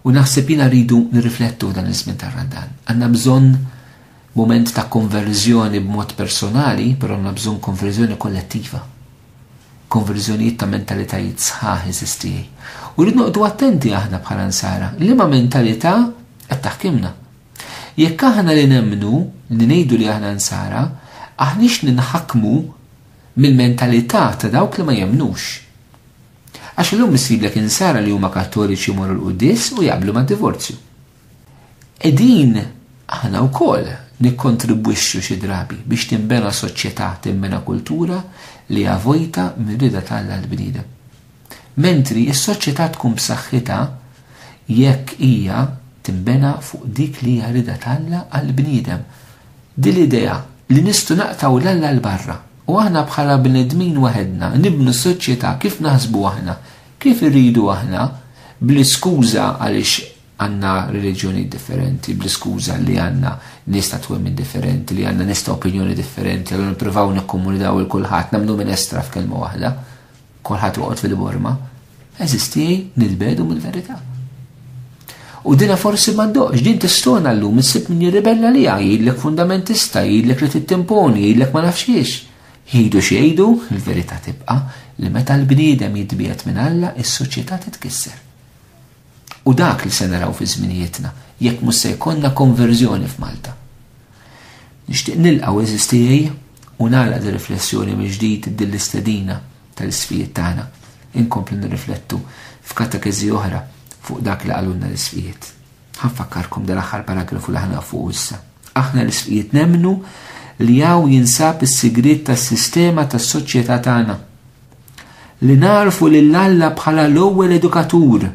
U naħseb jiena rridu nirriflettu dan iż-żmien tar-Randan. Għandna bżonn moment ta' konverżjoni b'mod personali, però għandna bżonn konverżjoni kollettiva. Konverżjonijiet ta' mentalitajiet sħaħ eżistijaj. U rridu noqdu attenti aħna bħala nsara, li ma' mentalità qed taħkimna. Jekk aħna li nemmnu li ngħidu li aħna nsara, aħniex ninħakmu mill-mentalità ta' dawk li ma jemnux. Għax illum issiblek insara li huma kattoliċi jmorru l-quddies u jaqblu mad-divorzju. Qegħdin aħna wkoll nikkontribwixxu xi drabi biex tinbena soċjetà, tinbena kultura li hija vojta mir-rieda t'Alla għall-bniedem. Mentri s-soċjetà tkun b'saħħitha jekk hija tinbena fuq dik li hija rieda t'Alla għall-bniedem. Din l-idea li nistgħu naqtgħu 'l Alla 'l barra. U aħna bħala bnedmin waħedna nibnu s-soċjetà kif naħsbu aħna, kif irridu aħna, bl-iskuża għaliex għandna reliġjonijiet differenti, bl-iskuża li għandna nies ta' twemmin differenti, li għandna nies ta' opinjoni differenti, allura nippruvaw nikkomunidaw il kulħadd, nagħmlu minestra f'kelma waħda. Kolħat uqot fil-borma, eżisti nil-bedu mill-verità. U dina forsi ma doqx, din tistona l-lum, nsib min jirribella li jgħidlek fundamentista, jgħidlek li tittimponi, jgħidlek ma nafx jiex. Jgħidu xejdu, il-verità tibqa li meta l-bniedem jitbiet minn Alla, is-soċjetà titkisser. U dak li se naraw fi żminijietna, jekk mhux se jkollna konverżjoni f'Malta. Nixtieq nilqgħu eżiż tiegħi u nagħlaq di riflessjoni mill-ġdid din l-istedina tal-isfijiet tagħna. Inkomplu nirriflettu f'katekeżi oħra fuq dak li qalulna l-isfijiet. Ħanfakkarkom dal-aħħar paragrafu li ħanaf fuq issa. Aħna l-isfijiet nemnu li hawn jinsab is-sigriet tas-sistema tas-soċjetà tagħna. Li narfu lil Alla bħala l-ewwel edukatur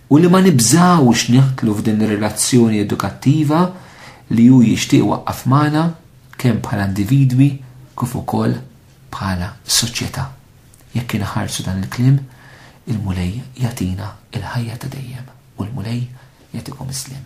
u li ma nibżawx neħtlu f'din ir-relazzjoni edukattiva li hu jixtieq waqqaf magħna kemm bħala individwi kif ukoll bħala soċjetà. Jekk inħarsu dan il-kliem, il-Mulej jatina il-ħajja ta' dejjem u l-Mulej jatikom islim.